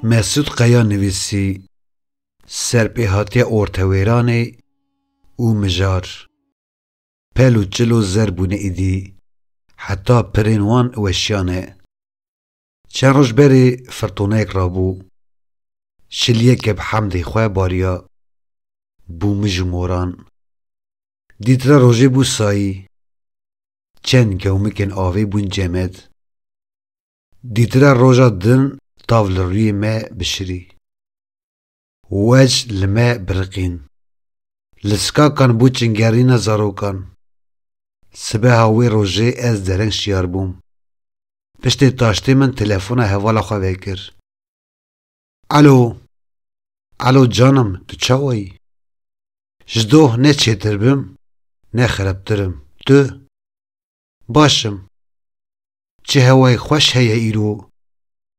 Mesûd Qeya nivîsî, Serpêhatiya ortewêranê û mijar, pel û çil û zer bûne îdî, heta pirên wan weşiyane. Çend roj berê firtoneyek rabû, şiliyek ke bi hemdê xwe bariya bû mij û moran. Dître rojê bû sayî, çend gewmikên avê bûn cemed. Dître roja din tav li rûyê me bişirî. Wej li me biriqîn. Li skakan bû çingerîna zarokan. Sibeha wê rojê ez dereng şiyar bûm. Piştê taştê min telefona hevala xwe vekir. Elo! Elo canim tu çawa yî? Ji doh ne çêtir bim, ne xereptir im. Tu? Baş im. Çi hewayek xweş heye îro?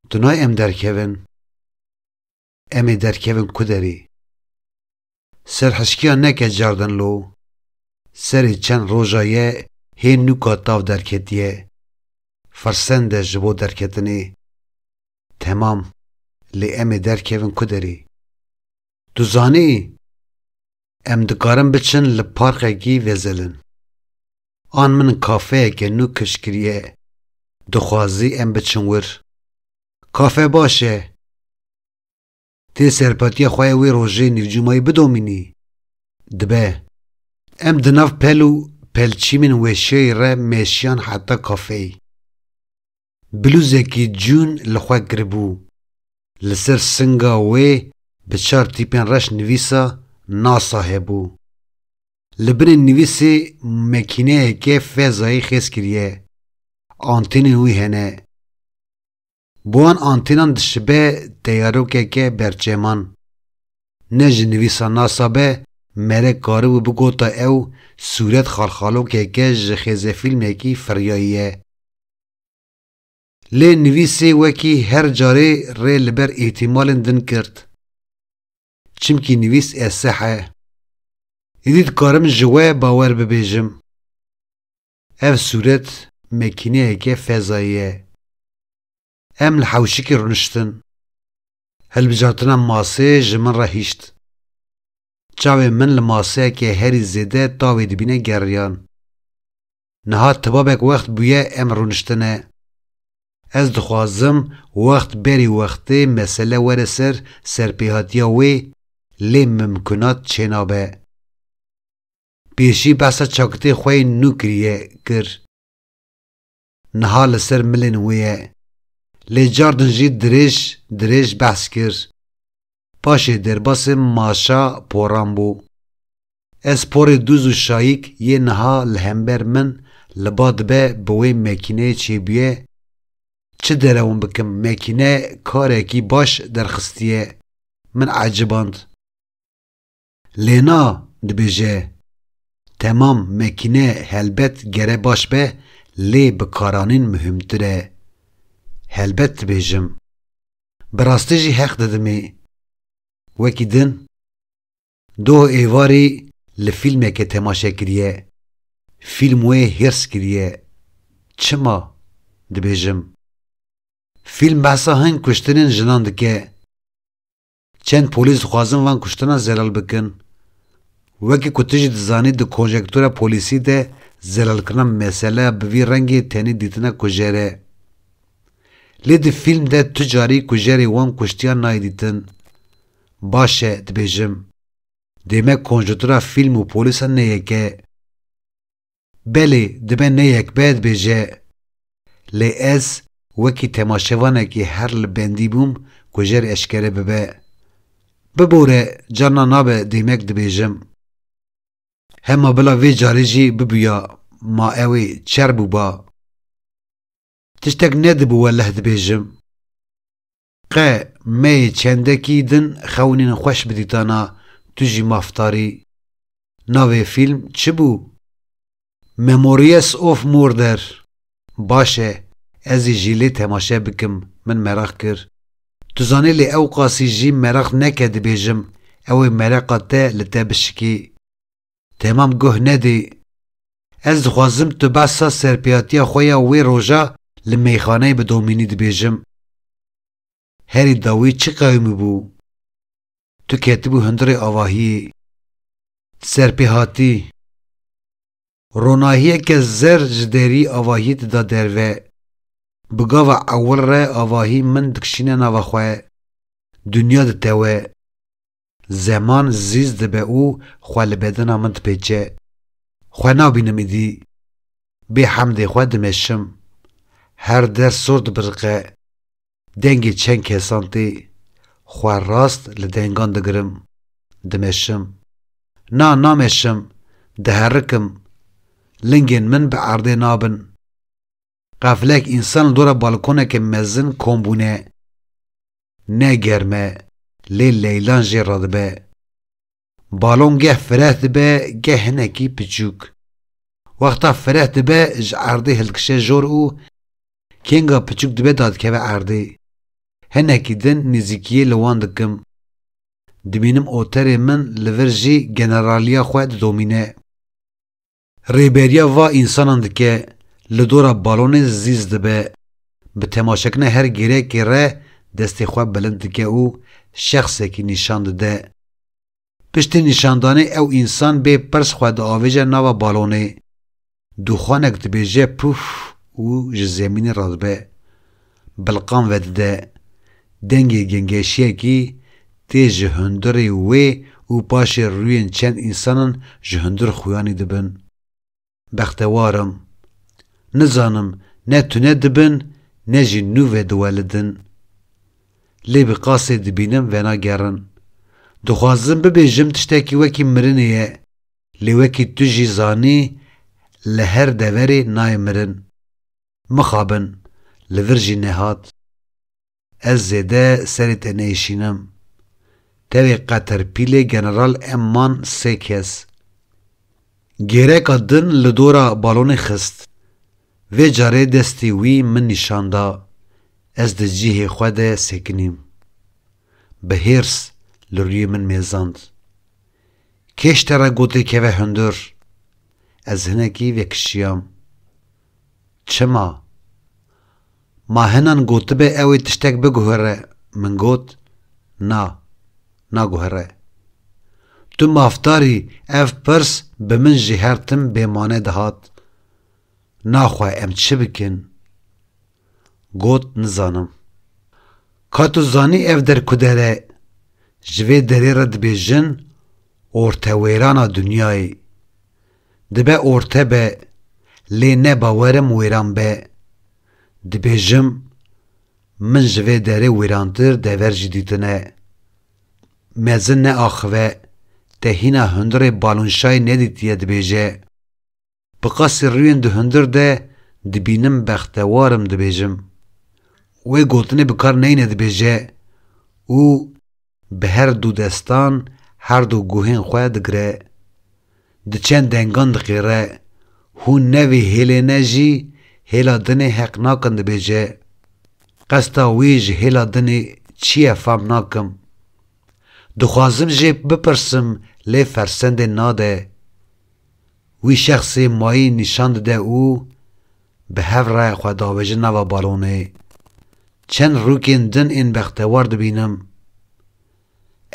Tu nayê em derkevin? Em ê derkevin ku derê. Serhişkiya neke cardin lo. Serê çend roja ye hê nûka tav derketiye. Firsende ji bo derketinê. Temam, lê em ê derkevin ku derê. Tu zanî? Em dikarin biçin li parqekî vezelin. An min kafeyeke nû kişt kiriye, dixwazî em biçin wir. Kafe baş e. Tê serpatiya xwe ya wê rojê nîvcumayî bidomînî. Dibe. Em di nav pel û pelçîmên weşiyayî re meşiyan heta kafeyî. Blûzekî cûn li xwe kiribû. Li ser singa wê bi çar tîpên reş nivîsa NASA hebû. Li binê nivîsê mekîneyeke fezayî xêz kiriye. Antênên wî hene. Bi wan antênan dişibe teyarokeke berçeman. Ne ji nivîsa NASA be mere karibû bigota ew sûret xalxalokeke ji xêzefîlmekî firyayî ye. Lê nivîsê wekî her carê rê li ber îhtîmalên din girt. Çimkî nivîs eseh e. Îdî dikarim ji we bawer bibêjim. Ev sûret mekîneyeke fezayî ye. Em li hewşikê rûniştin. Hilbijartina masê ji min re hişt. Çavên min li maseyeke herî zêde tavê dibîne geriyan. Niha tibabek wext bûye em rûniştine. Ez dixwazim wext berî wextê mesele were ser serpêhatiya wê lê mimkunat çênabe. Pêşî behsa çakitê xwe yê nû kiriye kir. Niha li ser milên wê ye. Lê car din jî dirêj dirêj behs kir. Paşê derbasê Maşa poran bû. Ez porê dûz û şayîk yê niha li hember min li ba dibe bi wê mekîneyê çêbûye, çi derewm bikim mekîne karekî baş derxistiye, min eciband. Lena dibêje, Temam mekîne helbet gere baş be lê bi karanîn muhîmtir e. Helbet dibêjim. Bi rastî jî heq didimê. Wekî din doh êvarî li fîlmeke temaşe kiriye. Fîlm wê hîrs kiriye. Çima? dibêjim. Fîlm behsa hin kuştinên jinan dike. Çend polîs dixwazin van kuştinan zelal bikin. Wekî ku tu jî dizanî di konjektûra polîsî de zelalkirina meseleya bi vî rengê tenê dîtina kujer e. Lê di fîlm de tu carî kujerê wan kuştiyan nayê dîtin. Baş e, dibêjim. Dê me konjetura fîlm û polîsan ne yek e. Belê dibe ne yekbed be je. Lê ez wekî temaşevanekî her li bendî bûm ku jer eşkere bibe. Bibore carna nabe deymek dibêjim. Hema bila vê carê jî bibûya ma ewê çer bûba. Tiştek ne di bi weleh dibêjim. Qe meyê çendekî din xewnên xweş bi dîtana tu jî maftarî. Navê fîlm çi bû? Memories of Murder. Baş e, ez ê jî lê temaşe bikim, min meraq kir. Tu zanî lê ewqasî jî meraq neke dibêjim ew ê mereqa te li te bişikî. Temam guh nedî. Ez dixwazim tu behsa serpêhatiya xwe ya wê roja li meyxaneyê bi Domînî dibêjim. Herî dawî çi qewimî bû. Tu ketibû hundirê avahiyê. Ti serpêhatî. Ronahiyeke zer ji derî avahiyê dida derve. Bi gava ewil re avahî min dikişîne nava xwe. Dinya ditewe. Zeman zîz dibe û xwe li bedena min dipêçe. Xwe nabînim îdî. Bê hemdê xwe dimeşim. Her der sor dibiriqe. Dengê çend kesan tê. Xwe rast li dengan digirim. Dimeşim. Na, nameşim. Diherikim. Lingên min bi erdê nabin. Qeflek însan li dora balkoneke mezin kom bûne. Ne germ e, lê leylan jê re dibe. Balon geh fireh dibe geh hinekî piçûk. Wexta fireh dibe ji erdê hildikişe jor û kênga piçûk dibe dadikeve erdê. Hinekî din nêzîkiyê li wan dikim. Dibînim oterê min li vir jî generaliya xwe didomîne. Rêberiya va însanan dike, li dora balonê zîz dibe, bi temaşekirina her gêrekê re destê xwe bilind dike û şexsekî nîşan dide. Piştî nîşandanê ew însan bê pirs xwe diavêje nava balonê. Dûxanek dibêje puf û ji zemînê radibe. Bilqan vedide dengê gengeşiyekî tê ji hundirê wê û paşê rûyên çend însanan ji hundir xuyanî dibin. Bextewar im. Nizanim ne tune dibin ne jî nû ve diwelidin. Lê bi qasê dibînim venagerin. Dixwazim bibêjim tiştekî wekî mirinê ye, lê wekî tu jî zanî li her deverê nayê mirin. Mixabin, li vir jî nehat. Ez zêde serê te nêşînim. Tevê qeterpîlê general em man sê kes. Gêreka din li dora balonê xist. Vê carê destê wî min nîşan da, ez di cihê xwe de sekinîm. Bi hêrs li rûyê min mêzand. Kêş te re gotê keve hundir. Ez hinekî vekişiyam. Çima? Ma hinan gotibe ew ê tiştek biguhere min got, Na, naguhere. Tu mafdarî ev pirs bi min ji her tim bê mane dihat, Na xwe em çi bikin? Got, Nizanim. Ka tu zanî ev der kudere, ji vê derê re dibêjin ortewêrana dinyayê. Dibe orte be, lê ne bawerim wêran be. Dibêjim, min ji vê derê wêrantir dever jî dîtine. Mezin neaxive, te hîna hundirê balonşayê nedîtiye dibêje. Bi qasî rûyên di hundir de dibînim bextewar im dibêjim. Wê gotinê bi kar neyne dibêje û. Bi her du destan her du guhên xwe digire, di çend dengan diqêre, hûn ne vê hêlê ne jî hêla dinê heq nakin dibêje. Qesta wî ji hêla dinê çi ye fam nakim. Dixwazim jê bipirsim lê fersendê nade. Wî şexsê mayî nîşan dide û bi hev re xwe davêje nava balonê. Çend rûkên din ên bextewar dibînim.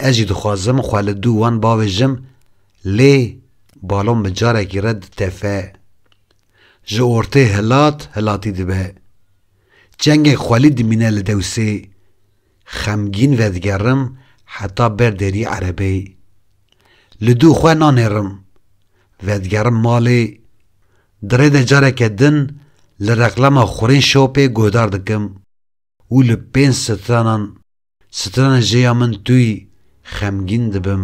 Ez jî dixwazim xwe li dû wan bavêjim lê balon bi carekî re ditefe. Ji ortê hilat hilatî dibe. Çengek xwelî dimîne li dewsê. Xemgîn vedigerim heta ber derî erebeyê. Li dû xwe nanêrim. Vedigerim malê. Di rê de careke din li reklama xurên şopê guhdar dikim û li pênc stranan, strana jê ya min tûy, xemgîn dibim.